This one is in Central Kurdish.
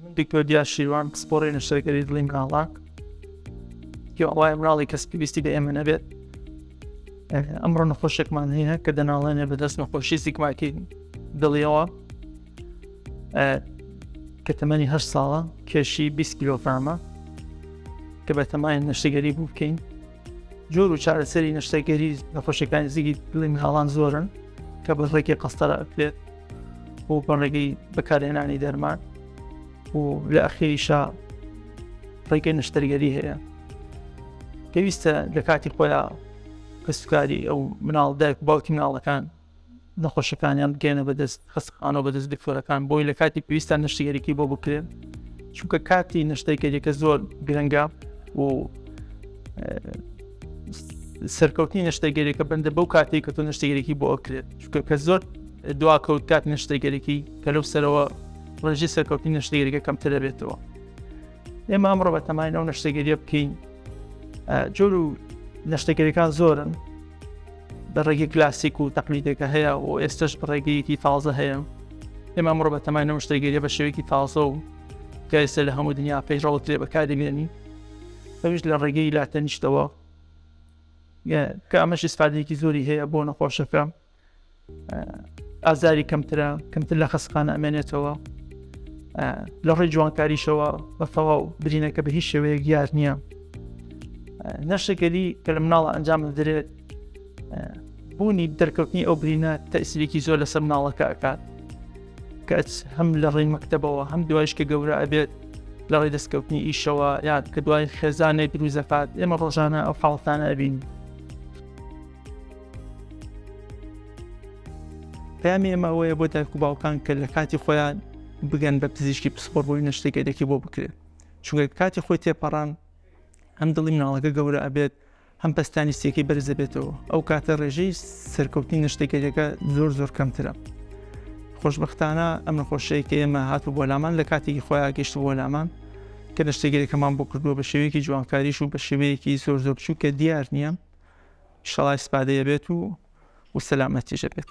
من دکتۆر دیار شیروان پسپۆڕی نەشتەرگەری دڵی مناڵان پیاوایە مناڵی کەس پێویستی بە ئێمە نەبێت ئەمڕۆ نەخۆشێکمان هەیە کە دەناڵێنێ بەدەست نەخۆشی زیکماکی دڵیەوە کە تەمەنی هەر ساڵە کێشی 20 کیلۆفرامە کە بەتەمای نەشتەگەری بوو بکەین جۆر و چارەسەری نەشتەگەری نەخۆشیەکانی زیگی دڵی مناڵان زۆرن کە بە ڕێکی قەستەرە بێت بۆ بەڕێگەی بەکارهێنانی دەرمان و لە ئەخیریشا ڕێگەی نەشتەرگەری هەیە پێویستە لە کاتی خۆیان کەسوکاری ئەو مناڵ دایک باوکی مناڵەکان نەخۆشەکانیان بگەیەنە بەدەست خەستەخانەو بەدەست دکتۆرەکان بۆی لە کاتی پێویستا نەشتەگەریی بۆ بکرێن چونکە کاتی نەشتەگەریەکە زۆر گرنگە و سەرکەوتنی نەشتەگەریەکە بندە بەو کاتی کە تۆ نەشتەگەریی بۆ ئەکرێت چونکە کە زۆر دوا کەوت کات نەشتەگەریی کە لەو سەرەوە ڕێژی سەرکەوتنی نەشتەگەریەکە کەمتر دەبێتەوە ئێمە ئەمڕۆ بە تەمای ئەو نەشتەگەریە بکەین جۆر و نەشتەگەریەکان زۆرن بەڕێگەی کلاسیک و تەقلیدێکە هەیە و ئێستش بەڕێگەیەکی تازە هەیە ئێمە ئەمڕۆ بە تەمای نەوە شتێگەریە بە شێوەیەکی تازە و گایسە لە هەموو دنیا پێیڕەوت لێ بەکاری بێنی ئەوش لە ڕێگەی لاتەنیشتەوە کە ئەمەش ئسفادێکی زۆری هەیە بۆ نەخۆشەکە ئازاری کەمترە کەمتر لە خەسخان ئەمێنێتەوە لە ڕێی جوانکاریشەوە بە تەواو برینەکە بە هیچ شێوەیە گیار نییە نەشەگەلی کە لە مناڵە ئەنجام دەدرێت بوونی دەرکەوتنی ئەو برینە تەسیرێکی زۆر لەسەر مناڵەکە ئەکات کەس هەم لە ڕێی مەکتەبەوە هەم دوایش کە گەورە ئەبێت لە ڕێ دەستکەوتنی ئیشەوە یاد کە دوای خێزانێک دروزەکات ئێمە ڕۆژانە ئەو حاڵتانە ئەبین پەیامی ئێمە ئەوەیە بۆ دایک و باوکان کە لە کاتی خۆیان بگەن بە پزیشکی پسپۆر بۆی نەشتە گەرێکی بۆ بکرێت چونگە کاتی خۆی تێپەڕان هەم دڵی مناڵەکە گەورە ئەبێت هەم پستانی سێکی بەرزەبێتەوە ئەو کاتە ڕێژەی سەرکەوتنی نەشتەگەریەکە زۆر زۆر کەمترە خۆشببختانە ئەم نەخۆشەیە کە ئێمە هاتو بۆ لامان لە کاتێکی خۆیان گەشت بۆ لامان کە نەشتەگەرێکەمان بۆ کردووە بە شێوەیەکی جوانکاریش و بە شێوەیەکی زۆر زۆر بچوو کە دیار نییە ئیشەڵا ئیسپادەی ئەبێت و و سەلامەتیش ئەبێت.